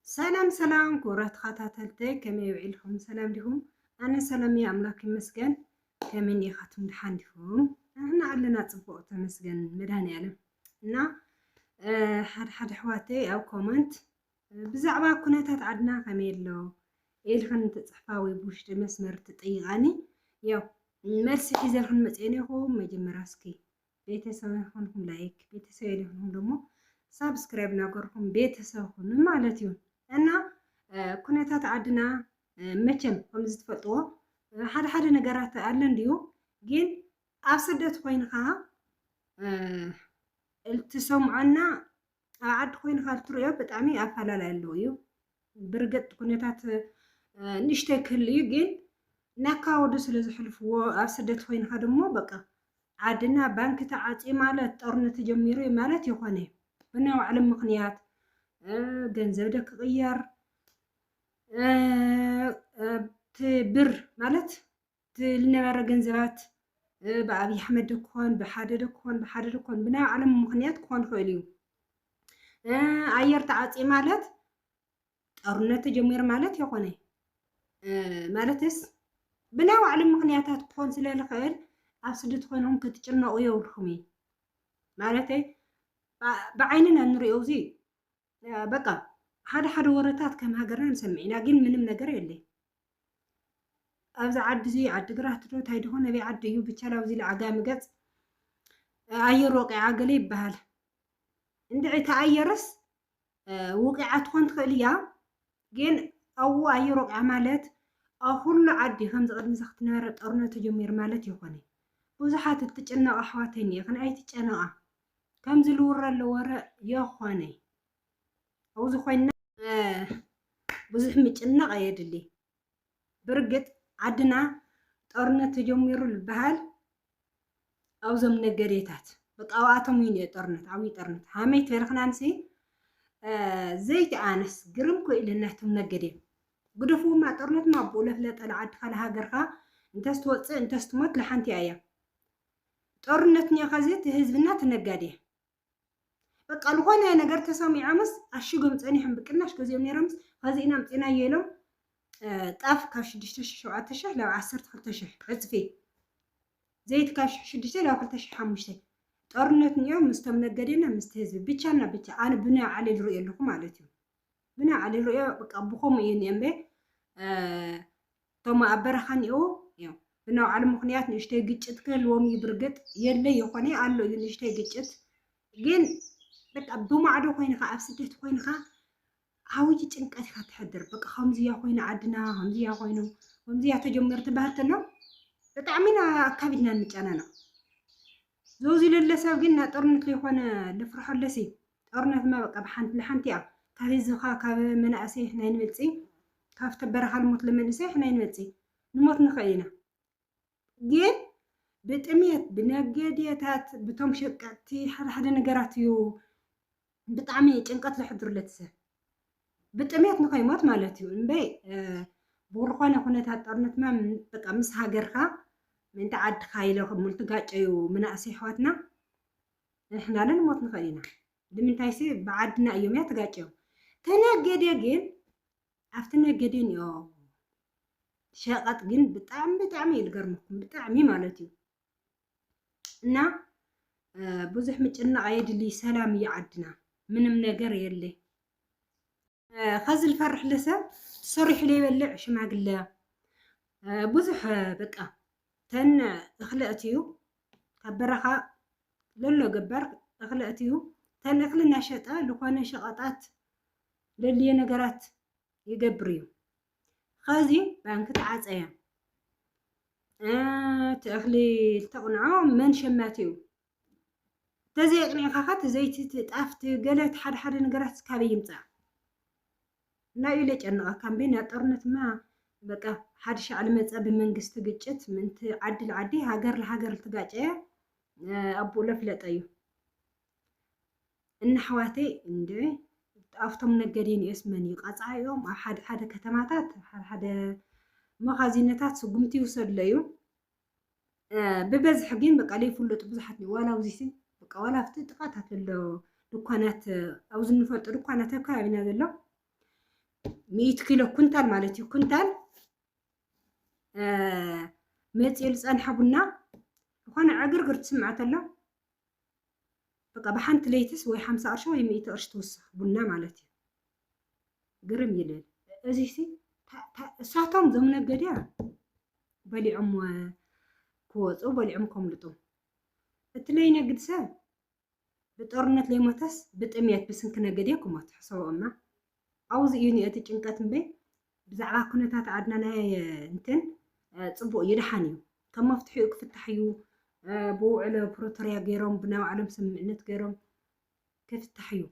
ሰላም ሰላም ክቡራት ተኸታተልተይ ከመይ ውዒልኩም ሰላም ዲኹም? ኣነ ሰላም እየ ኣምላክ ይመስገን። ከመይ እኒኻትኩም ድሓን ዲኹም? ንሕና ኣለና ፅቡቅ ተመስገን መድሃኒኣለም እና ሓደ ሓደ ኣሕዋተይ ኣብ ኮመንት ብዛዕባ ኩነታት ዓድና ከመይ ኣሎ ኢልክን ትፅሕፋ ወይ ብውሽጢ መስመር ትጠይቃኒ ያው መልሲ ሒዘልክን መፅኤን ኢኹም መጀመርያ እስኪ ቤተሰብ ኣይኮንኩም ላይክ ቤተሰብ የለይኮንኩም ደሞ ሳብስክራይብ ናገርኩም ቤተሰብ ኩኑ ማለት እዩ እና ኩነታት ዓድና መቸም ከምዚ ትፈልጥዎ ሓደ ሓደ ነገራት ኣለ እንድዩ ግን ኣብ ስደት ኮይንካ እትሰምዖና ኣብ ዓዲ ኮይንካ እትሪኦ ብጣዕሚ ኣፈላላይ ኣለዎ እዩ ብርግጥ ኩነታት ንእሽተይ ክህሉ እዩ ግን ናካወዱ ስለ ዝሕልፍዎ ኣብ ስደት ኮይንካ ድሞ በቃ ዓድና ባንኪ ተዓፂ ማለት ጦርነት ተጀሚሩ እዩ ማለት ይኾነ ብናይ ባዕሎም ምክንያት ገንዘብ ደ ክቕየር እቲ ብር ማለት ዝነበረ ገንዘባት ብኣብዪ ኣሕመድ ዶ ክኾን ብሓደ ዶ ክኾን ብሓደ ዶ ክኾን ብናይ ባዕሎም ምኽንያት ክኾን ይኽእል እዩ ኣየር ተዓፅዩ ማለት ጦርነት ተጀሚሩ ማለት የኾነ ማለትስ ብናይ ባዕሎም ምኽንያታት ክኾን ስለ ዝኽእል ኣብ ስደት ኮይኖም ክትጭነቑ የብልኩም እዩ ማለተይ ብዓይንና ንሪኦ እዚ በቃ ሓደ ሓደ ወረታት ከም ሃገርና ንሰምዕ ኢና፣ ግን ምንም ነገር የለ ኣብዚ ዓዲ እዚ ዓዲግራት ዶ እንታይ ድኾን ኣበይ ዓዲ እዩ ብቻ ኣብዚ ዓጋሚ ገፅ ኣየር ወቂዓ ገለ ይበሃል እንድዒ ተኣየረስ ውቂዓ ትኾን ትኽእል እያ ግን ኣብኡ ኣየር ወቂዓ ማለት ኣብ ኩሉ ዓዲ ከምዚ ቅድሚ እዚ ክትነበረ ጦርነት ተጀሚሩ ማለት ይኾነ ብዙሓት እትጨነቃ ኣሕዋተይ እኒኤክን ኣይትጨነቃ ከምዚ ልውረሉ ወረ የኾነ ኣብኡ ዝኾይና ብዙሕ ምጭናቕ ኣየድሊ ብርግጥ ዓድና ጦርነት ተጀሚሩ ዝበሃል ኣብዞም ነገዴታት በቃ ኣብኣቶም እዩ ነዮ ጦርነት ዓብዪ ጦርነት ሃመይ ተርኽናንሲ ዘይቲ ኣነስ ግርም ክኢልን ናይቶም ነገዴ ግደፍዎማ ጦርነትማ ኣብኡ ለፍለጠ ንዓድኻ ንሃገርካ እንተስትወፅእ እንተስትሞት ለሓንቲ እያ ጦርነት ኒዮኻ እዚ እቲ ህዝብና እቲ ነጋዴ በቃ ዝኾነ ነገር ተሰሚዖምስ ኣሽጎም ጸኒሖም ብቅናሽ ገዚኦም ነይሮምስ ኸዚ ኢና ኣምጺናዮ ኢሎም ጣፍ ካብ ሽዱሽተ ሽሕ ሸውዓተ ሽሕ ናብ ዓሰርተ ክልተ ሽሕ ዕጽፊ ዘይቲ ካብ ሽሕ ሽዱሽተ ናብ ክልተ ሽሕ ሓሙሽተ ጦርነት ኒዮ ምስቶም ነገዴና ምስቲ ህዝቢ ብቻና ብቻ ኣነ ብናይ ዓሊ ዝሪኦ ኣለኹ ማለት እዩ ብናይ ዓሊ ዝሪኦ በቃ ብኸምኡ እዩ ኒኦ እምበ እቶም ኣብ በረኻ እኒኦው እዮም ብናውዓሉ ምኽንያት ንእሽተይ ግጭት ክህልዎም እዩ ብርግጥ የለ ይኾነ ኣሎ እዩ ንእሽተይ ግጭት ግን በቃ ብማዕዶ ኮይንካ ኣብ ስደት ኮይንካ ዓብይ ጭንቀት ኢኻ ትሕድር በቃ ከምዚያ ኮይኑ ዓድና ከምዚያ ኮይኑ ከምዚያ ተጀመሩ ትበሃል ተሎ ብጣዕሚ ኢና ኣካቢድና ንጨናነቕ ዘውዚ ለለ ሰብ ግን ናብ ጦርነት ዘይኮነ ልፍርሖለስ እዩ ጦርነትማ በቃ ብሓንቲ ንሓንቲ እያ ካብ ህዝብካ ካብ መናእሰይ ኣሕና ኣይንበልጽይ ካብቲ በረኻ ልሙት ለመንእሰይ ኣሕና ኣይንበልጽይ ንሞት ንኽእል ኢና ግን ብጥምየት ብነገድየታት ብቶም ሸቀጥቲ ሓደ ሓደ ነገራት እዩ ብጣዕሚ ጭንቀት ዘሕድሩለት ሰብ ብጥምየት ንኸይሞት ማለት እዩ እምበይ ብዝኾነ ኩነታት ጦርነትማ በቃ ምስ ሃገርካ ምእንቲ ዓድካ ኢሎ ከም ሙልትጋጨዩ መናእሰይ ኣሕዋትና ንሕና ልንሞት ንኽእል ኢና ልምንታይሲ ብዓድና እዮም እያ ትጋጭዮም ተነገዴ ግን ኣብቲ ነገዴ ኒኦ ሸቐጥ ግን ብጣዕሚ ብጣዕሚ እዩ ልገርመኩም ብጣዕሚ ማለት እዩ እና ብዙሕ ምጭናቕ ኣየድልይ ሰላም እዩ ዓድና ምንም ነገር የለ ከዚ ልፈርሕ ለሰብ ሰሪሑ ለይበልዕ ሽማግለ ብዙሕ በቃ ተን እኽለ እትዩ ካብ በረኻ ለሎ ገበር እኽለ እትዩ ተን እኽሊ እናሸጠ ዝኾነ ሸቐጣት ለልየ ነገራት ይገብር እዩ ከዚ ባንክ ተዓፀየ እቲ እኽሊ ዝተቕንዖ መን ሸማት እዩ ተዘይ ኣቅኒዕካ ከ እቲ ዘይቲ እቲ ጣፍ እቲ ገለ እቲ ሓደ ሓደ ነገራት ካበይ ይምጻእ እና እዩ ለጨነቀካ እምበይ እና ጦርነት ማ በቃ ሓዲ ሻዕ ልመጸ ብመንግስቲ ግጭት ምንቲ ዓዲ ልዓዲ ሃገር ልሃገር ልትጋጨየ ኣቡኡ ለፍለጠ እዩ እና ኣሕዋተይ እንደ ኣብቶም ነገዲን እዮስ መን እዩ ቃጽዓ እዮም ኣብ ሓደ ሓደ ከተማታት ሓደ ሓደ መኻዚነታት ስጉምቲ ይውሰድሎ እዩ ብበዝሒ ግን በቃ ለይፍለጡ ብዙሓት እዮም ዋላ ኣብዚሲ በቃ ዋላ ኣብቲ ጥቃታት ዘሎ ድኳናት ኣብዚ እንፈልጦ ድኳናት ኣብ ከባቢና ዘሎ ሚእቲ ኪሎ ኩንታል ማለት እዩ ኩንታል መፂኡ ዝፀንሐ ቡና ዝኾነ ዕግርግር ትስምዐ ተሎ በቃ ብሓንቲ ለይትስ ወይ ሓምሳ ቅርሺ ወይ ሚእቲ ቅርሺ ትውስኽ ቡና ማለት እዩ ግርም ይልል እዚሲ እሳቶም ዞም ነገድያ በሊዖም ክወፁ በሊዖም ከምልጡ እቲ ለይነግድ ሰብ ብጦርነት ለይሞተስ ብጥሜት ብስንኪ ነገድያ ክሞት ሕሰቦ እማ ኣውዚ እዩ ኒኤቲ ጭንቀት እምበይ ብዛዕባ ኩነታት ኣድናናየ እንትን ጽቡቅ እዩ ደሓን እዩ ከም መፍትሒኡ ክፍታሕ እዩ ብውዕሎ ፕሮቶርያ ገይሮም ብናይ ባዕሎም ስምምዕነት ገይሮም ክፍታሕ እዩ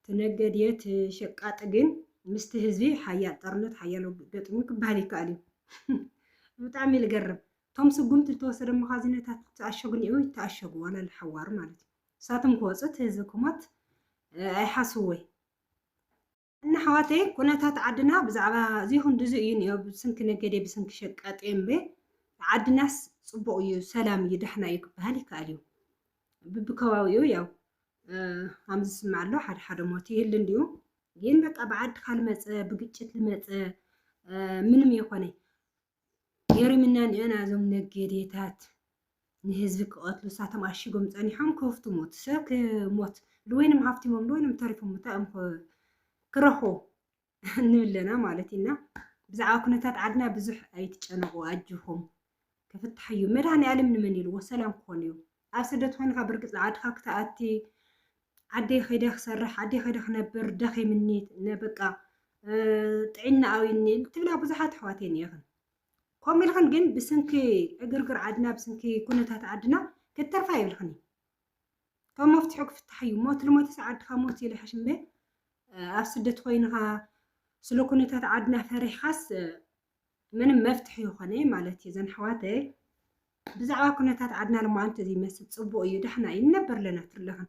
ትነገድየት ሸቃጥ ግን ምስቲ ህዝቢ ሓያል ጠርነት ሓያል ገጥሙ ክበሃል ይከኣል እዩ ብጣዕሚ ልገርም እቶም ስጉምቲ ዝተወሰደ መኻዚነታት ተኣሸጉ ኒኡ ይተኣሸጉ ዋላ ልሓዋሩ ማለት እዩ ንሳቶም ክወጹ እቲ ህዝቢ ክሞት ኣይሓስውይ። እና ኣሕዋተይ ኩነታት ዓድና ብዛዕባ እዚ ክንድዚ እዩ ኒኦ ብስንኪ ነገዴ ብስንኪ ሸቃጢ እምበይ ዓድናስ ጽቡቅ እዩ ሰላም እዩ ዳሕና እዩ ክበሃል ይከኣል እዩ ብብከባቢኡ ያው ከም ዝስማዕ ኣሎ ሓደ ሓደ ሞት ይህል እንዲዩ ግን በቃ ብዓድካ ልመጸ ብግጭት ልመጸ ምንም የኮነይ ገሪምና ንዐና እዞም ነጌዴታት ንህዝቢ ክቀትሉ እሳቶም ኣሺጎም ጸኒሖም ከፍቱ ሞት ሰብ ክሞት ልወይንም ሃፍቲሞም ልወይንም ተሪፎም እንታይ እዮም ክረኽቡ ንብለና ማለት እዩ እና ብዛዕባ ኩነታት ዓድና ብዙሕ ኣይትጨነቁ ኣጆኹም ክፍታሕ እዩ መድሃኒ ዓለም ንመን ኢልዎ ሰላም ክኾን እዩ ኣብ ስደት ኮይንካ ብርግጽ ንዓድካ ክትኣቲ ዓደይ ከይደ ክሰርሕ ዓደይ ከይደ ክነብር ደኺምኒ በቃ ጥዒና ኣውይኒ ትብላ ብዙሓት ኣሕዋት እየን ከምኡ ኢልክን ግን ብስንኪ ዕግርግር ዓድና ብስንኪ ኩነታት ዓድና ክትተርፋ ይብልክን ከም መፍትሑ ክፍታሕ እዩ ሞት ልሞትስ ዓድካ ሞት ይልሕሽ እምበ ኣብ ስደት ኮይንካ ስለ ኩነታት ዓድና ፈሪሕካስ ምንም መፍትሒ ይኾነ ማለት እዩ ዘን ኣሕዋተይ ብዛዕባ ኩነታት ዓድና ድማ እንተዘይመስል ፅቡቅ እዩ ዳሕና እዩ ንነበር ኣለና ትርለኽን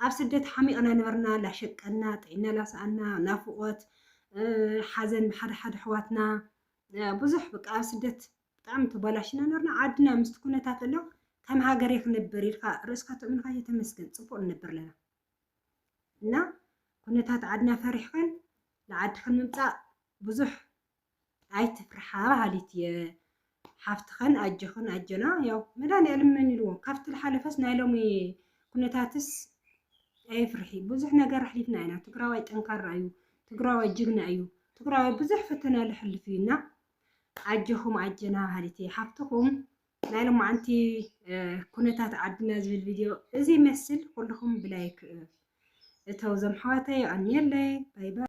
ኣብ ስደት ሓሚቕና ነበርና ላሸቀና ጥዒና ላሰኣና ናፍቆት ሓዘን ብሓደ ሓደ ኣሕዋትና ብዙሕ በቃ ኣብ ስደት ብጣዕሚ ተባላሽና ነበርና ዓድና ምስቲ ኩነታት ኣሎ ከም ሃገር ክንበር ኢልካ ርእስካ ትእምንካ እየተመስገን ፅቡቅ ንነበር ኣለና እና ኩነታት ዓድና ፈሪሕክን ንዓድክን ምምፃእ ብዙሕ ኣይትፍርሓ በሃሊት እየ ሓፍትኸን ኣጆኽን ኣጆና ያው መድሃኒኣለም መኒልዎ ካብቲ ዝሓለፈስ ናይ ሎሚ ኩነታትስ ኣይፍርሒ ብዙሕ ነገር ኣሕሊፍና ኢና ትግራዋይ ጠንካራ እዩ ትግራዋይ ጅግና እዩ ትግራዋይ ብዙሕ ፈተና ዝሕልፍ እዩና ኣጆኹም ኣጀና በሃሊት እየ ሓፍትኹም ናይ ሎማዓንቲ ኩነታት ዓድና ዝብል ቪድዮ እዚ ይመስል ኩልኹም ብላይክ እተው ዘምሓዋተይ ኣንየለይ ባይ ባይ